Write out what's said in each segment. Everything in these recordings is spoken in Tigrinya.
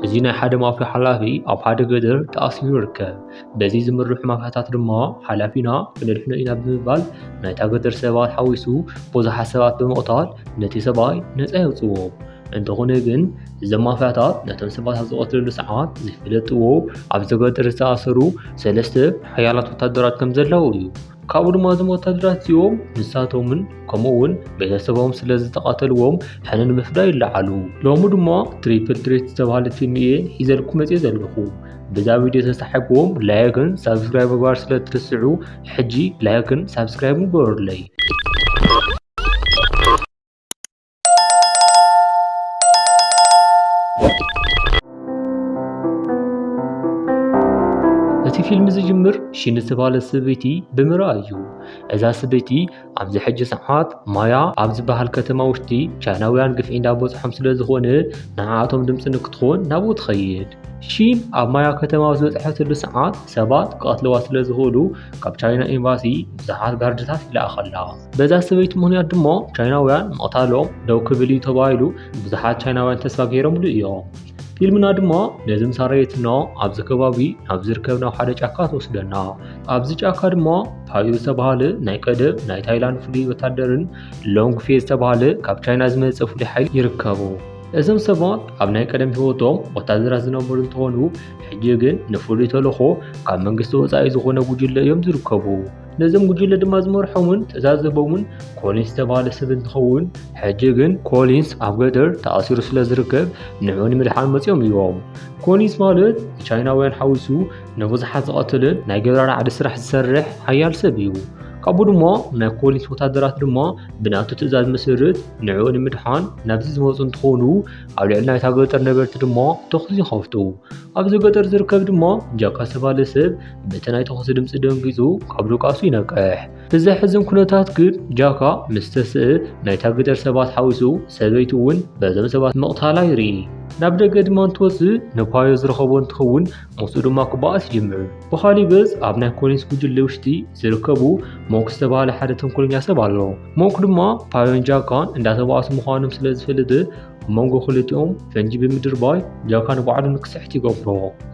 እዚ ናይ ሓደ ማፍያ ሓላፊ ኣብ ሓደ ገደር ተኣሲሩ ይርከብ። በዚ ዝምርሑ ማፍያታት ድማ ሓላፊና ክነድሕኖ ኢና ብምባል ናይታ ገደር ሰባት ሓዊሱ ብዙሓት ሰባት ብምቕታል ነቲ ሰብኣይ ነፃ የውፅዎ። እንተኾነ ግን እዞም ማፍያታት ነቶም ሰባት ኣብ ዝቐትለሉ ሰዓት ዘይፈለጥዎ ኣብዚ ገደር ዝተኣሰሩ ሰለስተ ሓያላት ወታደራት ከምዘለዉ እዩ። ካብኡ ድማ እዞም ወታደራት እዚኦም ንሳቶምን ከምኡ እውን ቤተሰቦም ስለ ዝተቐተልዎም ሕነ ንምፍዳይ ይለዓሉ ሎሚ ድማ ትሪፕል ትሬት ዝተባሃለ ፊልም እየ ሒዘልኩ መፅየ ዘለኹ በዛ ቪድዮ ተሳሒብዎም ላይክን ሳብስክራይብ ምግባር ስለ ትርስዑ ሕጂ ላይክን ሳብስክራይብ ምግበሩለይ እቲ ፊልም ዝጅምር ሺን ዝተባለ ሰበይቲ ብምርኣይ እዩ እዛ ሰበይቲ ኣብዚ ሕጂ ሰዓት ማያ ኣብ ዝበሃል ከተማ ውሽጢ ቻይናውያን ግፍዒ እንዳበፅሖም ስለ ዝኾነ ንዓኣቶም ድምፂ ንክትኾን ናብኡ ትኸይድ ሺን ኣብ ማያ ከተማ ዝበፅሐትሉ ሰዓት ሰባት ክቐትለዋ ስለ ዝኽእሉ ካብ ቻይና ኤምባሲ ብዙሓት ጋርድታት ይለኣኸላ በዛ ሰበይቲ ምክንያት ድማ ቻይናውያን ምቕታሎም ደው ክብል እዩ ተባሂሉ ብዙሓት ቻይናውያን ተስፋ ገይሮምሉ እዮም። ፊልምና ድማ ነዚ ምስ ኣረየትና ኣብዚ ከባቢ ናብ ዝርከብ ናብ ሓደ ጫካ ትወስደና ኣብዚ ጫካ ድማ ፓዩ ዝተባሃለ ናይ ቀደም ናይ ታይላንድ ፍሉይ ወታደርን ሎንግ ፌ ዝተባሃለ ካብ ቻይና ዝመፀ ፍሉይ ሓይሊ ይርከቡ እዞም ሰባት ኣብ ናይ ቀደም ህይወቶም ወታደራት ዝነበሩ እንትኾኑ ሕጂ ግን ንፍሉይ ተልእኾ ካብ መንግስቲ ወፃኢ ዝኾነ ጉጅለ እዮም ዝርከቡ ነዞም ጉጅለ ድማ ዝመርሖምን ትእዛዝ ዝህቦምን ኮሊንስ ዝተባሃለ ሰብ እንትኸውን ሕጂ ግን ኮሊንስ ኣብ ገደር ተኣሲሩ ስለ ዝርከብ ንዑ ንምድሓን መፂኦም እዮም። ኮሊንስ ማለት ንቻይናውያን ሓዊሱ ንብዙሓት ዝቐትልን ናይ ገደራ ራዕዲ ስራሕ ዝሰርሕ ሓያል ሰብ እዩ። ካብኡ ድማ ናይ ኮሊንስ ወታደራት ድማ ብናቱ ትእዛዝ መሰረት ንዕኡ ንምድሓን ናብዚ ዝመፁ እንትኾኑ ኣብ ልዕሊ ናይታ ገጠር ነበርቲ ድማ ተኹሲ ይኸፍቱ ኣብዚ ገጠር ዝርከብ ድማ ጃካ ዝተባለ ሰብ በቲ ናይ ተኹሲ ድምፂ ደንጊፁ ካብ ድቃሱ ይነቅሕ። እቲ ዘሕዝን ኩነታት ግን ጃካ ምስ ተስእ ናይታ ግደር ሰባት ሓዊሱ ሰበይቱ እውን በዞም ሰባት ምቕታላ ይርኢ። ናብ ደገ ድማ እንትወፅእ ንፓዮ ዝረኸቦ እንትኸውን ምስኡ ድማ ክበኣስ ይጅምር። ብኻሊእ ገፅ ኣብ ናይ ኮሊንስ ጉጅለ ውሽጢ ዝርከቡ ሞክ ዝተባሃለ ሓደ ተንኮለኛ ሰብ ኣሎ። ሞክ ድማ ፓዮን ጃካን እንዳተባኣሱ ምዃኖም ስለ ዝፈልጥ ኣብ መንጎ ክልቲኦም ፈንጂ ብምድርባይ ጃካ ንባዕሉ ንክስሕት ይገብሮ።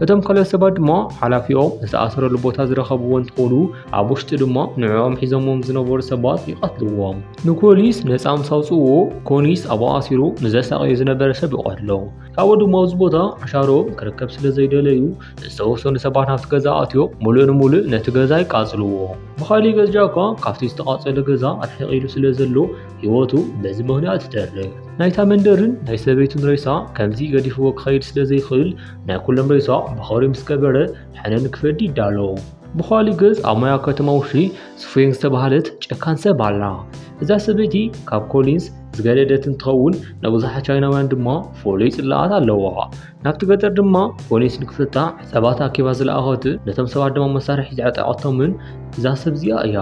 እቶም ካልኦት ሰባት ድማ ሓላፊኦም ዝተኣሰረሉ ቦታ ዝረኸብዎ እንትኾኑ ኣብ ውሽጢ ድማ ንዕኦም ሒዞምዎም ዝነበሩ ሰባት ይቐትልዎም። ንኮሊስ ነፃ ምስ ኣውፅእዎ ኮኒስ ኣብኡ ኣሲሩ ንዘሳቐዮ ዝነበረ ሰብ ይቐትሎ። ካብኡ ድማ ኣብዚ ቦታ ዕሻሮም ክርከብ ስለ ዘይደለዩ ዝተወሰኑ ሰባት ናብቲ ገዛ ኣትዮ ሙሉእ ንሙሉእ ነቲ ገዛ ይቃፅልዎ። ብኻሊእ ገፅ ጃካ ካብቲ ዝተቓፀለ ገዛ ርሕቕ ኢሉ ስለ ዘሎ ህይወቱ በዚ ምኽንያት ትተርፍ። ናይታ መንደርን ናይ ሰበይቱን ሬሳ ከምዚ ገዲፍዎ ክኸይድ ስለ ዘይኽእል ናይ ኩሎም ሬሳ ብኸሪ ምስ ቀበረ ሕነ ንክፈዲ ይዳሎ። ብኻሊእ ገጽ ኣብ ማያ ከተማ ውሽጢ ስፉየን ዝተባህለት ጨካን ሰብ ኣላ። እዛ ሰበይቲ ካብ ኮሊንስ ዝገደደት እንትኸውን ንብዙሓት ቻይናውያን ድማ ፍሉይ ጽላኣት ኣለዋ። ናብቲ ገጠር ድማ ኮሊንስ ንክፍታ ሰባት ኣኪባ ዝለኣኸት ነቶም ሰባት ድማ መሳርሒ ዘዕጠቐቶምን እዛ ሰብ እዚኣ እያ።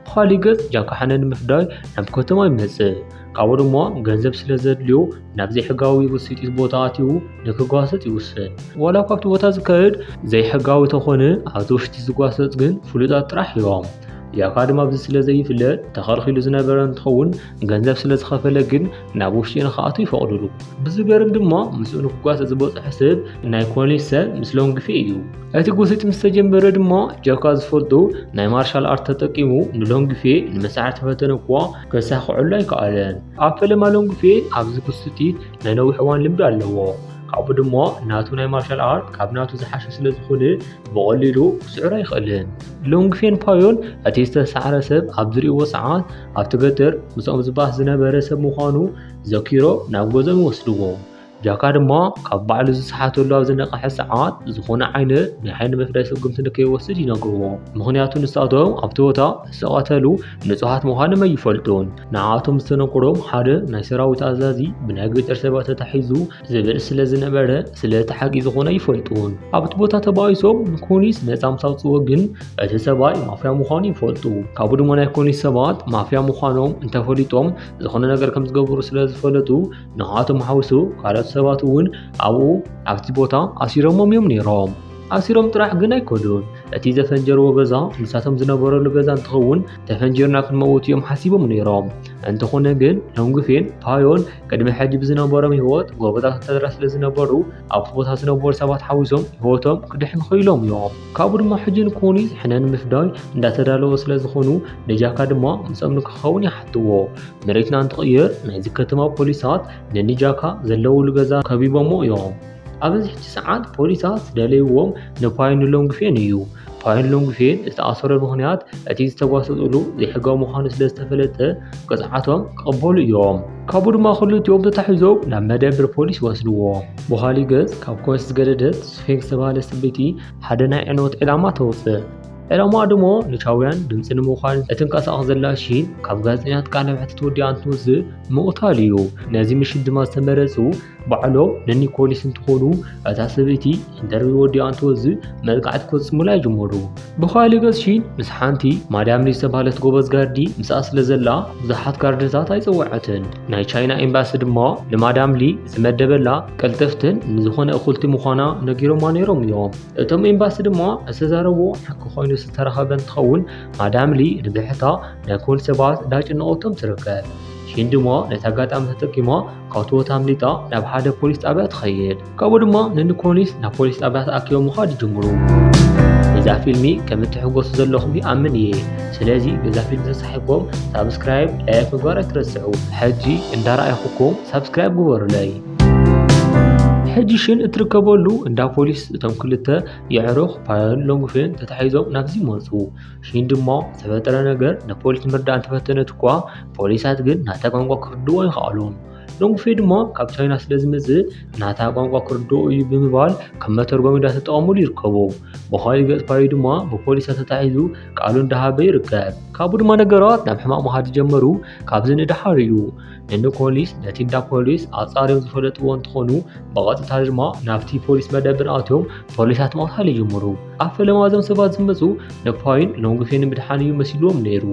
ብኻሊእ ገፅ ጃካሓነ ንምፍዳይ ናብ ከተማ ይመፅእ። ካብኡ ድማ ገንዘብ ስለዘድልዮ ናብ ዘይሕጋዊ ውፅኢት ቦታ ኣትዩ ንክጓሰፅ ይውስን። ዋላ እኳ ኣብቲ ቦታ ዝካየድ ዘይሕጋዊ ተኾነ ኣብቲ ውሽጢ ዝጓሰፅ ግን ፍሉጣት ጥራሕ እዮም። ጃካ ድማ ኣብዚ ስለዘይፍለጥ ተኸልኪሉ ዝነበረ እንትኸውን፣ ገንዘብ ስለ ዝኸፈለ ግን ናብ ውሽጢ ንክኣቱ ይፈቕዱሉ። ብዝገርም ድማ ምስኡ ንክጓሰ ዝበፅሖ ሰብ ናይ ኮሌጅ ሰብ ምስ ሎንግፌ እዩ። እቲ ጉሲት ምስ ተጀመረ ድማ ጃካ ዝፈልጦ ናይ ማርሻል ኣርት ተጠቂሙ ንሎንግፌ ንምስዓር ተፈተነ እኳ ከሳኽዐሉ ኣይከኣለን። ኣብ ፈለማ ሎንግፌ ኣብዚ ጉሲት ናይ ነዊሕ እዋን ልምዲ ኣለዎ። ካብኡ ድማ ናቱ ናይ ማርሻል ኣርት ካብ ናቱ ዝሓሸ ስለ ዝኾነ ብቐሊሉ ክስዕሮ ኣይኽእልን። ሎንግፌን ፓዮን እቲ ዝተሳዕረ ሰብ ኣብ ዝርእይዎ ሰዓት ኣብቲ ገጠር ምስኦም ዝባህ ዝነበረ ሰብ ምዃኑ ዘኪሮ ናብ ገዝኦም ይወስድዎ። ጃካ ድማ ካብ ባዕሉ ዝሰሓተሉ ኣብ ዝነቐሐ ሰዓት ዝኾነ ዓይነት ናይ ዓይኒ መፍዳይ ስጉምቲ ንከይወስድ ይነግርዎ። ምኽንያቱ ንሳቶም ኣብቲ ቦታ ዝተቐተሉ ንጹሃት ምዃኖም ኣይፈልጡን። ንዓኣቶም ዝተነግሮም ሓደ ናይ ሰራዊት ኣዛዚ ብናይ ገጠር ሰባት ተታሒዙ ዝብል ስለ ዝነበረ ስለ እቲ ሓቂ ዝኾነ ይፈልጡን ኣብቲ ቦታ ተባኢሶም ንኮኒስ ነፃ ምስ ኣውፅዎ ግን እቲ ሰብኣይ ማፍያ ምዃኑ ይፈልጡ ካብኡ ድማ ናይ ኮኒስ ሰባት ማፍያ ምዃኖም እንተፈሊጦም ዝኾነ ነገር ከም ዝገብሩ ስለ ዝፈለጡ ንዓቶም ሓውሱ ካልኦት ሰባት እውን ኣብኡ ኣብቲ ቦታ ኣሲሮሞም እዮም ነይሮም ኣሲሮም ጥራሕ ግን ኣይኮኑን እቲ ዘፈንጀርዎ ገዛ ንሳቶም ዝነበረሉ ገዛ እንትኸውን ተፈንጂርና ክንመውት እዮም ሓሲቦም ነይሮም። እንተኾነ ግን ሎንግፌን ፓዮን ቅድሚ ሕጂ ብዝነበሮም ህይወት ጎበታት ወታደራት ስለ ዝነበሩ ኣብቲ ቦታ ዝነበሩ ሰባት ሓዊሶም ህይወቶም ክድሕኑ ክኢሎም እዮም። ካብኡ ድማ ሕጂ ንኮኒ ዝሕነ ንምፍዳይ እንዳተዳለወ ስለ ዝኾኑ ንጃካ ድማ ምስኦም ንክኸውን ይሓትዎ። መሬትና እንትቕየር ናይዚ ከተማ ፖሊሳት ንንጃካ ዘለውሉ ገዛ ከቢቦሞ እዮም። ኣብዚ ሕጂ ሰዓት ፖሊሳት ዝደለይዎም ንፓይን ሎንግፌን እዩ። ፓይን ሎንግፌን ዝተኣሰረ ምክንያት እቲ ዝተጓሰፅሉ ዘይሕጋዊ ምዃኑ ስለ ዝተፈለጠ ቅፅዓቶም ክቕበሉ እዮም። ካብኡ ድማ ክልቲኦም ተታሒዞም ናብ መደብር ፖሊስ ይወስድዎ። ብኻሊ ገጽ ካብ ኮንስ ዝገደደት ስፌንክ ዝተባህለ ሰበይቲ ሓደ ናይ ዕንወት ዕላማ ተውፅእ። ዕላማ ድሞ ንቻውያን ድምፂ ንምዃን እትንቀሳቐስ ዘላ ሺን ካብ ጋዜጠኛት ቃለ መሕትት ወዲኣ እንትወፅእ ምቕታል እዩ። ነዚ ምሽት ድማ ዝተመረፁ ባዕሎ ንኒኮሊስ እንትኾኑ እታ ሰበይቲ ኢንተርቪው ወዲኣ እንትወዝእ መጥቃዕቲ ክፍጽሙላ ይጅመሩ። ብኻልእ ገጽ ሺን ምስ ሓንቲ ማዳም ሊ ዝተባህለት ጎበዝ ጋርዲ ምስኣ ስለ ዘላ ብዙሓት ጋርድታት ኣይጸወዐትን። ናይ ቻይና ኤምባሲ ድማ ንማዳም ሊ ዝመደበላ ቀልጠፍትን ንዝኾነ እኹልቲ ምዃና ነጊሮማ ነይሮም እዮም። እቶም ኤምባሲ ድማ ዝተዛረቦ ሓቂ ኮይኑ ዝተረኸበ እንትኸውን ማዳም ሊ ንብሕታ ናይ ኮን ሰባት እንዳጨነቐቶም ትርከብ። ሺን ድማ ነቲ ኣጋጣሚ ተጠቂማ ካብቲ ቦታ ኣምሊጣ ናብ ሓደ ፖሊስ ጣብያ ትኸይድ። ካብኡ ድማ ንኒኮሊስ ናብ ፖሊስ ጣብያ ተኣኪቦም ምዃድ ይጅምሩ። እዛ ፊልሚ ከም እትሕጎሱ ዘለኹም ይኣምን እየ። ስለዚ በዛ ፊልሚ ተሳሒብኩም ሳብስክራይብ፣ ላይክ ምግባር ኣይትረስዑ። ሕጂ እንዳረኣይኹኩም ሳብስክራይብ ግበሩለይ። ሕጂ ሽን እትርከበሉ እንዳ ፖሊስ እቶም ክልተ የዕሩኽ ፓዮን ሎንግፌን ተታሒዞም ናብዚ መፁ። ሽንዲ እሞ ዝተፈጠረ ነገር ንፖሊስ ምርዳእ እንተፈተነት እኳ ፖሊሳት ግን ናታ ቋንቋ ክርድዎ ይኸኣሉም። ሎንግፌ ድማ ካብ ቻይና ስለ ዝመጽእ ናታ ቋንቋ ክርድኦ እዩ ብምባል ከም መተርጎሚ እንዳተጠቐሙሉ ይርከቡ። ብኻሊእ ገጽ ፓዩ ድማ ብፖሊሳት ተታሒዙ ቃሉ እንዳሃበ ይርከብ። ካብኡ ድማ ነገራት ናብ ሕማቕ ምኻድ ዝጀመሩ ካብዚ ንደሓር እዩ። ንኒኮሊስ ነቲ እንዳ ፖሊስ ኣጻርዮም ዝፈለጥዎ እንትኾኑ ብቐጥታ ድማ ናብቲ ፖሊስ መደብር ኣትዮም ፖሊሳት ምቕታል ይጅምሩ። ኣብ ፈለማ እዞም ሰባት ዝመፁ ንፓይን ሎንግፌን ምድሓን እዩ መሲልዎም ነይሩ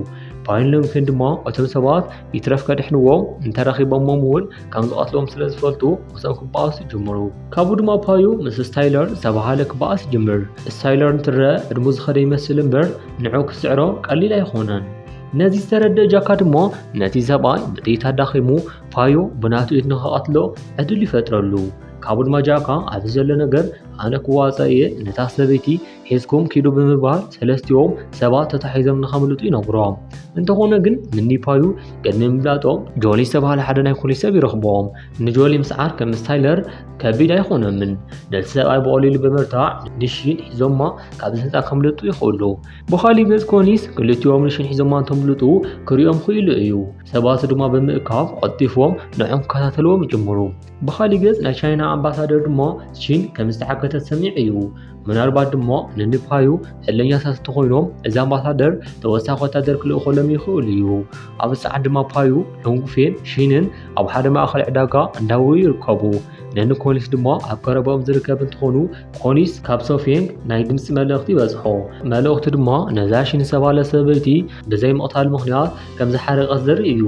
ፓይን ሎንግፌን ድማ እቶም ሰባት ይትረፍ ከድሕንዎም እንተረኺቦሞም እውን ከም ዝቐትሎም ስለ ዝፈልጡ ምስኦም ክበኣሱ ጀመሩ ካብኡ ድማ ፓዩ ምስ ስታይለር ዝተባሃለ ክበኣስ ይጅምር ስታይለር እንትረአ ዕድሙ ዝኸደ ይመስል እምበር ንዑ ክስዕሮ ቀሊል ኣይኾነን ነዚ ዝተረድእ ጃካ ድማ ነቲ ሰብኣይ ብጥይት ኣዳኺሙ ፓዮ ብናቱ ኢድ ንኸቐትሎ ዕድል ይፈጥረሉ ካብኡ ድማ ጃካ ኣብዚ ዘሎ ነገር ኣነ ክዋፃእ እየ ነታ ሰበይቲ ሒዝኩም ኪዱ ብምባል ሰለስቲኦም ሰባት ተታሒዞም ንኸምልጡ ይነግሮም እንተኾነ ግን ምኒፓዩ ቅድሚ ምፍላጦም ጆሊ ዝተባሃለ ሓደ ናይ ፖሊስ ሰብ ይረኽቦም ንጆሊ ምስዓር ከም ስታይለር ከቢድ ኣይኾኖምን ነቲ ሰብኣይ ብቐሊሉ ብምርታዕ ንሽን ሒዞማ ካብዚ ህንፃ ከምልጡ ይኽእሉ ብኻሊእ ገፅ ኮኒስ ክልቲኦም ንሽን ሒዞማ እንተምልጡ ክሪኦም ክኢሉ እዩ ሰባቱ ድማ ብምእካብ ቐልጢፎም ንዖም ክከታተልዎም ይጅምሩ ብኻሊእ ገጽ ናይ ቻይና ኣምባሳደር ድማ ቺን ከም ዝተሓገተት ሰሚዑ እዩ። ምናልባት ድማ ንንፓዩ ዕለኛታት እንተኾይኖም እዚ ኣምባሳደር ተወሳኺ ወታደር ክልእኸሎም ይኽእሉ እዩ። ኣብ ሰዓት ድማ ፓዩ፣ ሎንግፌን ሺንን ኣብ ሓደ ማእኸል ዕዳጋ እንዳው ይርከቡ። ንኒኮሊስ ድማ ኣብ ቀረባኦም ዝርከብ እንትኾኑ ኮሊስ ካብ ሶፌንግ ናይ ድምፂ መልእኽቲ ይበጽሖ። መልእኽቱ ድማ ነዛ ሺን ዝተባህለ ሰበይቲ ብዘይ ምቕታል ምኽንያት ከም ዝሓረቀት ዘርኢ እዩ።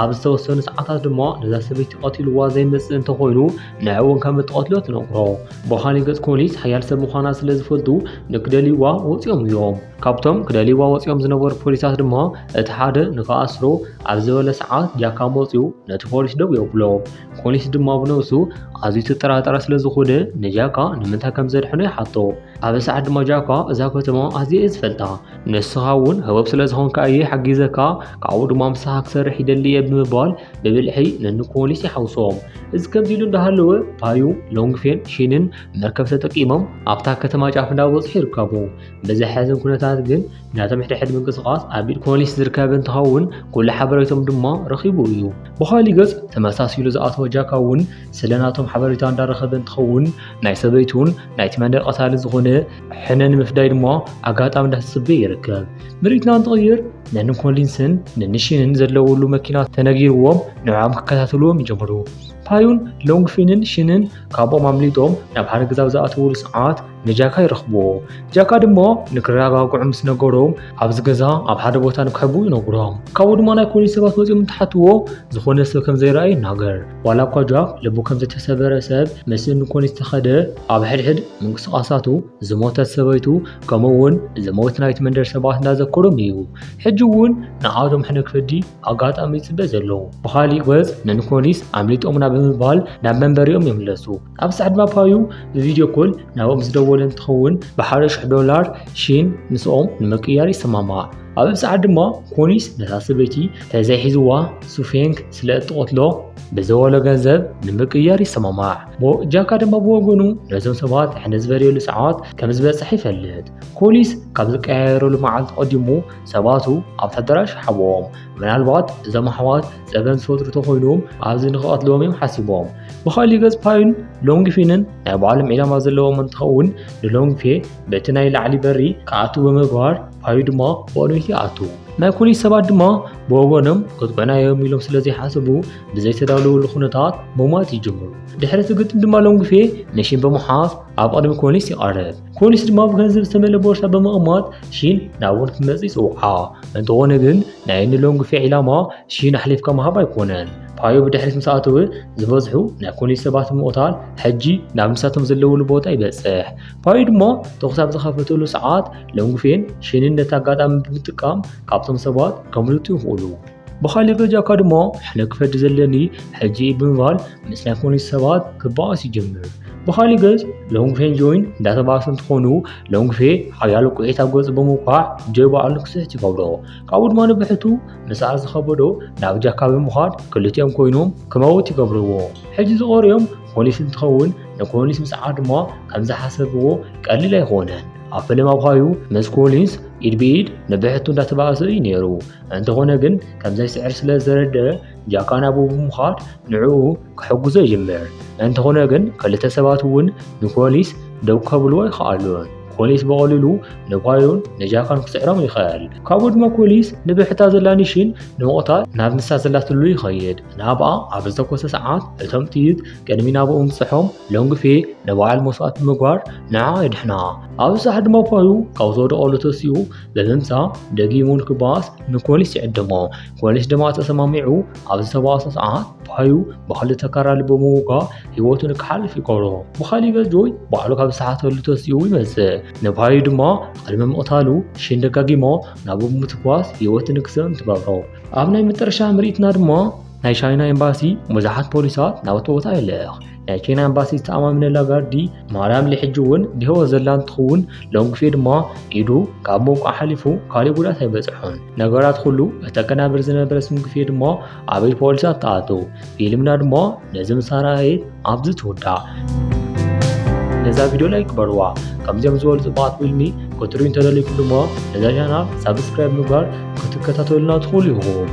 ኣብ ዝተወሰኑ ሰዓታት ድማ ነዛ ሰበይቲ ቀቲልዋ ዘይመጽእ እንተኾይኑ ንዕ እውን ከም እትቐትሎ ትነግሮ በኻሊ ገጽ ኮሊስ ሓያል ሰብ ምዃና ስለ ዝፈልጡ ንክደልይዋ ወፂኦም እዮም ካብቶም ክደልይዋ ወፂኦም ዝነበሩ ፖሊሳት ድማ እቲ ሓደ ንክኣስሮ ኣብ ዝበለ ሰዓት ጃካ መፅኡ ነቲ ፖሊስ ደው የብሎ ኮሊስ ድማ ብነብሱ ኣዝዩ ተጠራጠረ ስለ ዝኾነ ንጃካ ንምንታይ ከም ዘድሕኖ ይሓቶ ኣብ ሰዓት ድማ ጃካ እዛ ከተማ ኣዝየ ዝፈልጣ ንስኻ እውን ህቡብ ስለ ዝኾንካ እየ ሓጊዘካ ካብኡ ድማ ምሳኻ ክሰርሕ ይደሊ እየ ብምባል ብብልሒ ንኒኮሊስ ይሓውሶም እዚ ከምዚ ኢሉ እንዳሃለወ ፓዩ ሎንግፌን ሺንን መርከብ ተጠቂሞም ኣብታ ከተማ ጫፍ እንዳበፅሑ ይርከቡ ብዘሕዝን ኩነታት ግን ናቶም ሕድሕድ ምንቅስቓስ ኣብ ኢድ ኮሊስ ዝርከብ እንትኸውን ኩሉ ሓበሬቶም ድማ ረኺቡ እዩ ብኻሊ ገፅ ተመሳሲሉ ዝኣተወ ጃካ እውን ስለ ናቶም ሓበሬታ እንዳረኸበ እንትኸውን ናይ ሰበይቱን ናይቲ መንደር ቀታሊ ዝኾነ ሕነ ንምፍዳይ ድማ ኣጋጣሚ እንዳተፅበየ ይርከብ። ምርኢትና እንትቕይር ነን ኮሊንስን ንንሽንን ዘለውሉ መኪና ተነጊርዎም ንዕኦም ክከታተልዎም ይጀምሩ። ፓዩን ሎንግፊንን ሽንን ካብኦም ኣምሊጦም ናብ ሓደ ገዛ ዝኣተውሉ ሰዓት ንጃካ ይረኽብዎ። ጃካ ድማ ንክረጋግዑ ምስ ነገሮም ኣብዚ ገዛ ኣብ ሓደ ቦታ ንክሕቡ ይነግሮም። ካብኡ ድማ ናይ ኮሊንስ ሰባት መፂኦም እንትሓትዎ ዝኾነ ሰብ ከም ዘይረኣየ ይናገር። ዋላ እኳ ጃክ ልቡ ከም ዝተሰበረ ሰብ ምስእኒ ኮን ዝተኸደ፣ ኣብ ሕድሕድ ምንቅስቓሳቱ ዝሞተት ሰበይቱ ከምኡ እውን ዝሞት ናይቲ መንደር ሰባት እንዳዘከሮም እዩ ሕጂ እውን ንዓቶም ሕነ ክፈዲ ኣጋጣሚ ይጽበ ዘሎ። ብኻሊእ ገጽ ንኒኮሊስ ኣምሊጦሙና ብምባል ናብ መንበሪኦም ይምለሱ። ኣብ ሳዕ ድማ ፓዩ ብቪድዮ ኮል ናብኦም ምስ ደወለ እንትኸውን ብሓደ ሽሕ ዶላር ሺን ምስኦም ንምቅያር ይሰማማዕ ኣብ ሳዕ ድማ ኮኒስ ነታ ሰበይቲ ተዘይሒዝዋ ሱፌንግ ስለ እትቆትሎ ብዘወሎ ገንዘብ ንምቅያር ይሰማማዕ ጃካ ድማ ብወገኑ ነዞም ሰባት ሕነ ዝበለየሉ ሰዓት ከም ዝበፅሕ ይፈልጥ ኮሊስ ካብ ዝቀያየረሉ መዓልቲ ቀዲሙ ሰባቱ ኣብቲ ኣዳራሽ ሓቦም ምናልባት እዞም ኣሕዋት ጸበን ዝፈጥሩ ተኾይኖም ኣብዚ ንክቐትልዎም እዮም ሓሲቦም ብኻሊእ ገጽ ፓዩን ሎንግፊንን ናይ ባዕሎም ዒላማ ዘለዎም እንትኸውን ንሎንግፌ በቲ ናይ ላዕሊ በሪ ክኣቱ ብምግባር ፓዩ ድማ ብቕድሚት ይኣቱ ናይ ፖሊስ ሰባት ድማ ብወገኖም ቅጥዑና እዮም ኢሎም ስለ ዘይሓስቡ ብዘይተዳለወሉ ኩነታት ምሟት ይጅምሩ ድሕሪ እቲ ግጥም ድማ ሎንግፌ ነሽን ብምሓዝ ኣብ ቅድሚ ፖሊስ ይቐርብ ፖሊስ ድማ ብገንዘብ ዝተመልአ ቦርሳ ብምቕማጥ ሺን ናብኡ ክትመጽእ ይጽውዓ እንተኾነ ግን ናይ እኒ ሎንግፌ ዒላማ ሺን ኣሕሊፍካ ምሃብ ኣይኮነን ፓዮ ብድሕሪት ምስ ኣተወ ዝበዝሑ ናይ ኮሌጅ ሰባት ምቕታል ሕጂ ናብ ንሳቶም ዘለውሉ ቦታ ይበጽሕ ፓዮ ድማ ተኹስ ኣብ ዝኸፈተሉ ሰዓት ሎንግፌን ሺንን ነቲ ኣጋጣሚ ብምጥቃም ካብቶም ሰባት ከምልጡ ይኽእሉ ብኻልእ በጃካ ድማ ሕነ ክፈዲ ዘለኒ ሕጂ ብምባል ምስ ናይ ፖሊስ ሰባት ክበኣስ ይጀምር። ብኻልእ ገጽ ሎንግፌን ጆይን እንዳተባእሱ እንትኾኑ ሎንግፌ ሓያሎ ቁዒት ኣብ ገጹ ብምውቃዕ ጆይ በዓሉ ክስሕት ይገብሮ። ካብኡ ድማ ንብሕቱ ምስኣ ዝኸበዶ ናብ ጃካ ብምኻድ ክልቲኦም ኮይኖም ክመውት ይገብርዎ። ሕጂ ዝቐርዮም ፖሊስ እንትኸውን ንኮሊንስ ምስዓ ድማ ከም ዝሓሰብዎ ቀሊል ኣይኾነን። ኣብ ፈለማ ብኻዩ ምስ ኮሊንስ ኢድ ብኢድ ንብሕቱ እንዳተባእሰ እዩ ነይሩ። እንተኾነ ግን ከም ዘይስዕር ስለ ዝተረድአ ጃካ ናብኡ ብምዃድ ንዕኡ ክሕግዞ ይጅምር። እንተኾነ ግን ክልተ ሰባት እውን ንፖሊስ ደው ከብልዎ ይኸኣሉን። ፖሊስ ብቐሊሉ ንባዩን ንጃካን ክስዕሮም ይኽእል። ካብኡ ድማ ፖሊስ ንብሕታ ዘላ ኒሽን ንምቕታል ናብ ንሳ ዘላትሉ ይኸይድ። ናብኣ ኣብ ዝተኮሰ ሰዓት እቶም ጥይት ቅድሚ ናብኡ ምብፅሖም ሎንግፌ ንበዓል መስዋእቲ ምግባር ንዓ የድሕና። ኣብ ሳሕ ድማ ባዩ ካብ ዝወደቐሉ ተሲኡ ብምምጻእ ደጊሙ ንክበኣስ ንፖሊስ ይዕድሞ። ፖሊስ ድማ ተሰማሚዑ ኣብ ዝተባእሰ ሰዓት ባዩ ብክልተ ካራሊ ብምውጋእ ህይወቱ ንክሓልፍ ይገብሮ። ብካሊእ ገጆይ ባዕሉ ካብ ዝሰሓተሉ ተሲኡ ይመጽእ። ንባዩ ድማ ቅድሚ ምቕታሉ ሽን ደጋጊሞ ናብ ምትኳስ ህይወቱ ንክስእን ትገብሮ። ኣብ ናይ መጠረሻ ምርኢትና ድማ ናይ ቻይና ኤምባሲ ብዙሓት ፖሊሳት ናብቲ ቦታ ይልእኽ። ናይ ኬንያ ኣምባሲ ዝተኣማምነላ ጋርዲ ማርያም ልሕጂ እውን ብህይወት ዘላ እንትኸውን ሎንግፌ ድማ ኢዱ ካብ ምውቃ ሓሊፉ ካልእ ጉድኣት ኣይበፅሖን። ነገራት ኩሉ እተቀናብር ዝነበረ ስንግፌ ድማ ኣበይ ፖሊሳት ተኣተው። ፊልምና ድማ ነዚ ምስ ኣርኣየት ኣብዚ ትውዳእ። ነዛ ቪድዮ ላይክ በርዋ። ከምዚኦም ዝበሉ ፅቡቃት ፊልሚ ክትሪኡ እንተደሊኹም ድማ ነዛ ቻናል ሳብስክራይብ ምግባር ክትከታተሉና ትኽእሉ ኢኹም።